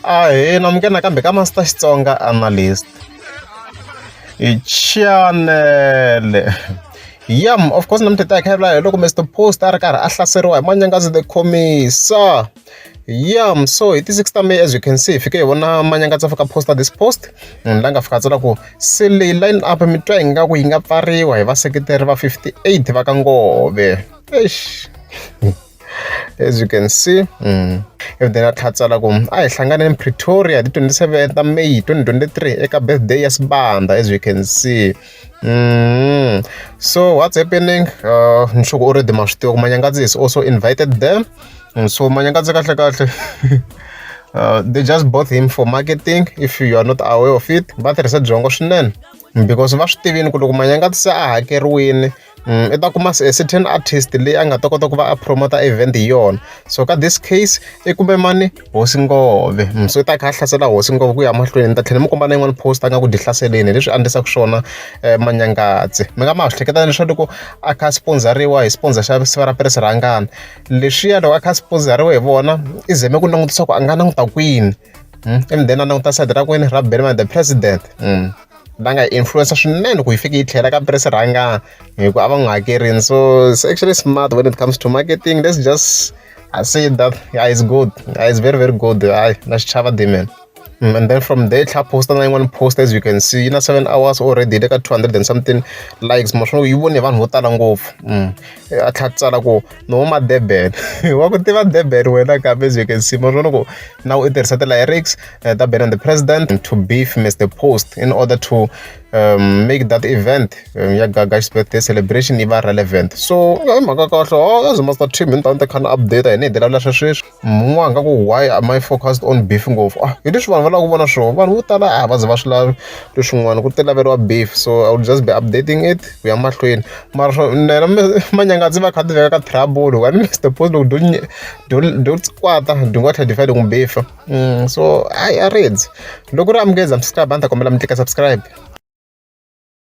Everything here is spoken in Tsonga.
Ahee, amuka nakambe ka Master Xitsonga Analyst. Chanele. Yam, of course namuntlha ta hi khavula hi loko Mr Post a ri karhi a hlaseriwa hi Manyangazi the Khomisa. Yam, so hi ti 6 ta May as you can see hi fike hi vona Manyangazi a fika poster this post. Munhu la nga fika a tsala ku se leyi line up mi twa hi nga ku yi nga pfariwa hi vaseketeri va 58 va ka Ngove. Eish. As you can see evhideni a tlhela a tsala ku a hi hlanganeni pretoria hi ti twenty seven ta may twenty twenty three eka birthday ya sibanda as you can see mm. so what's happening uh, ni sure ku already ma swi tiva ku manyangadzi is also invited there mm, so manyangadzi kahle kahle uh, they just bought him for marketing if you are not aware of it va tirhisa byongo swinene because va swi tivini ku loko manyangadzi se a hakeriwini I ta kuma a certain artist leyi a nga ta kota ku va a promote-a event hi yona. So ka this case i kume mani? Hosi Ngove. So i ta a kha a hlasela hosi Ngove ku ya mahlweni. Ni ta tlhela ni mi komba na yin'wani post-a ingaku dyi hlaseleni hi leswi a endlisaka swona Manyangadzi. Mi nga ma ha swi hleketa leswaku loko a kha a sponsor-riwa hi sponsor xa siva ra Piris Rhangana, leswiya loko a kha a sponsor-riwe hi vona, i zame ku langutisa ku a nga languta kwini and then a languta side ra kwini, ra Benny the President. va nga influence swinene ku yi fike yi tlhela ka press rhanga hi ku a va n'wi hakerini so it's actually smart when it comes to marketing let's just I say that yeah, it's good yeah, it's very very good hayi na xichava dimen mm, and then from there tlha posta na yin'wana post as you can see yi na seven hours already le ka 200 and something likes maswona yi vone hi vanhu vo tala ngopfu mm. a tlha tsala ku no huma durban wa ku tiva durban wena kambe byeke nsima swo loko na u tirhisa ti-lyrics uh, ta ben and the president to beef mr post in order to um, make that event um, ya gagax birthday celebration yi va relevant so i mhaka kahle o oh, as master team ni ta ni ta kha ni update hi ni hi dilavula swa sweswi mun'we a nga ku why am i focused on beef ngopfu ah hi leswi vanhu va lava ku vona swona vanhu vo tala a va ze va swi lavi leswin'wana ku ti laveriwa beef so i will just be updating it ku ya mahlweni mara swo nena manyanga ndzi va kha ti veka ka trouble wa ni mr post loko do do do kwata do nga tlhela defend ku beef mm, so i reads loko ri amukeza subscribe a ni ta kombela mi tlika subscribe